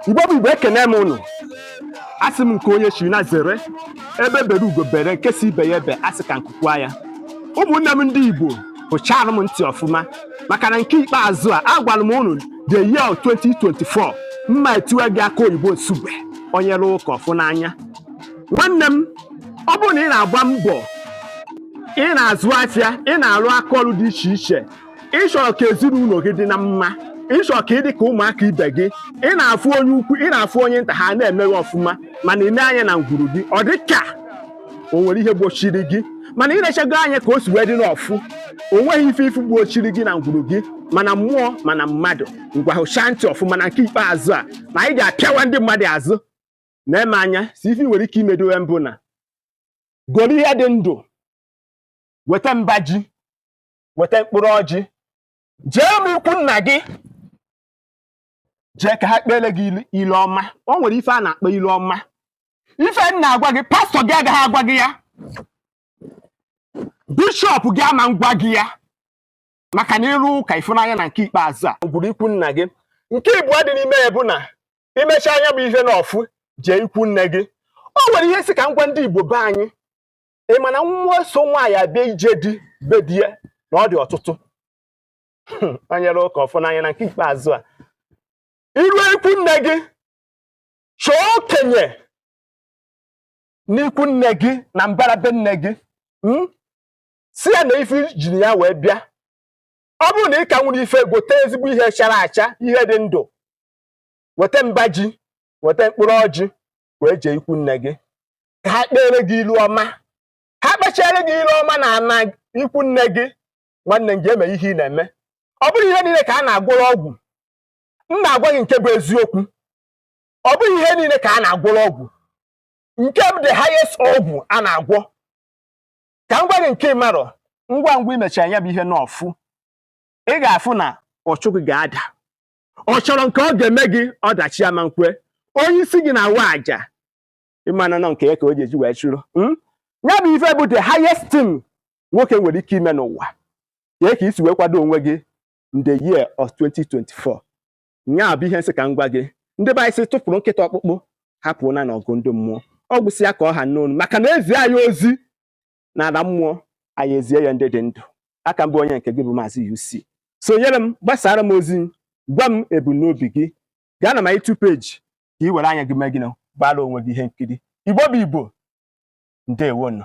igbo bụ igbo ekene m ụnụ asị m nke onye chiri nya zere egbe bere ugo bere nke sị ibe ya ebe asị ka nku kwaa ya ụmụnne m ndị igbo hụchara m ntị ọfụma maka na nke ikpeazụ a agwara m ụnụ the year 2024 mma etiwe gị aka oyibo nsugbe onye rụ ụka ọ fụ n'anya nwanne m ọ bụrụ na ị na-agba mbọ ị na-azụ afịa ị na-arụ aka ọrụ dị iche iche ị chọrọ ka ezinụlọ gị dị na mma ị chọrọ ka ị dị ka ụmụaka ibe gị ị na-afụ onye ukwu ị na-afụ onye nta ha na-emeghị ọfụma mana ị nee anya na ngwuru gị ọ dị ka o nwere ihe gbochiri gị mana ị nechago anya ka o si wee dị n'ọfụ o nweghị ife ị fụ gbochiri gị na ngwuru gị ma na mmụọ ma na mmadụ ngwa hụchaa ntị ọfụma na nke ikpeazụ a na anyị ga-apịawa ndị mmadụ azụ na-eme anya si ife i nwere ike imedo ya mbụ na goro ihe dị ndụ weta mba ji weta mkpụrụ ọjị jee na ikwu nna gị jee ka ha kpere gị ilu ọma o nwere ife a na-akpọ ilu ọma ife m na-agwa gị pastọ gị agaghị agwa gị ya bishọp gị ama ngwa gị ya maka na ị rụ ụka ị fụ n'anya na nke ikpeazụ a gwuru ikwu nna gị nke ịbụọ dị n'ime ya bụ na i mechaa nya bụ ihe n'ọfụ jee ikwu nne gị o nwere ihe m sị ka m gwa ndị Igbo be anyị ị ma na mmụọ so nwaanyị abịa ije di be di ya na ọ dị ọtụtụ onye rụ ụka ọ fụ n'anya na nke ikpeazụ a i ruo ikwu nne gị chọọ okenye n'ikwu nne gị na mbara be nne gị hmm? sị ya na ife i jiri ya wee bịa ọ bụrụ na ị ka nwere ife gote ezigbo ihe chara acha ihe dị ndụ weta mba ji weta mkpụrụ ọjị wee jee ikwu nne gị ka ha kpere gị ilu ọma ha kpechaara gị ilu ọma na ana ikwu nne gị nwanne m gaa mee ihe ị na-eme ọ bụrọ ihe niile ka a na-agwọrọ ọgwụ m na-agwa gị nke bụ eziokwu ọ bụghị ihe niile ka a na-agwọrọ ọgwụ nke bụ the highest ọgwụ a na-agwọ ka m gwa gị nke ị marọ ngwa ngwa i mechaa nya bụ ihe n'ọfụ ị ga-afụ na ọchụ gị ga-ada ọ chọrọ nke ọ ga-eme gị ọdachi ama nkwe onye isi gị na-awa aja ịmana nọ nke ya ka o ji eji wee chụrụ hmm? ya bụ ife bụ the highest thing nwoke nwere ike ime n'ụwa nya ka i si wee kwado onwe gị in the year of 2024 nya bụ ihe m sị ka m gwa gị ndị be anyị sị tụpụrụ nkịta ọkpụkpụ hapụ nya n'ọgụ ndị mmụọ ọ gwụsịa ka ọ ha m n'ọnụ maka na e zi anyị ozi n'ala mmụọ anyị ezie ya ndị dị ndụ a ka m bụ onye nke gị bụ maazị UC sonyere m gbasaara m ozi gwa m ebumnobi gị gaa na my YouTube page ka ị were anya gị mee gịnị gbaara onwe gị ihe nkiri igbo bụ igbo ndewonụ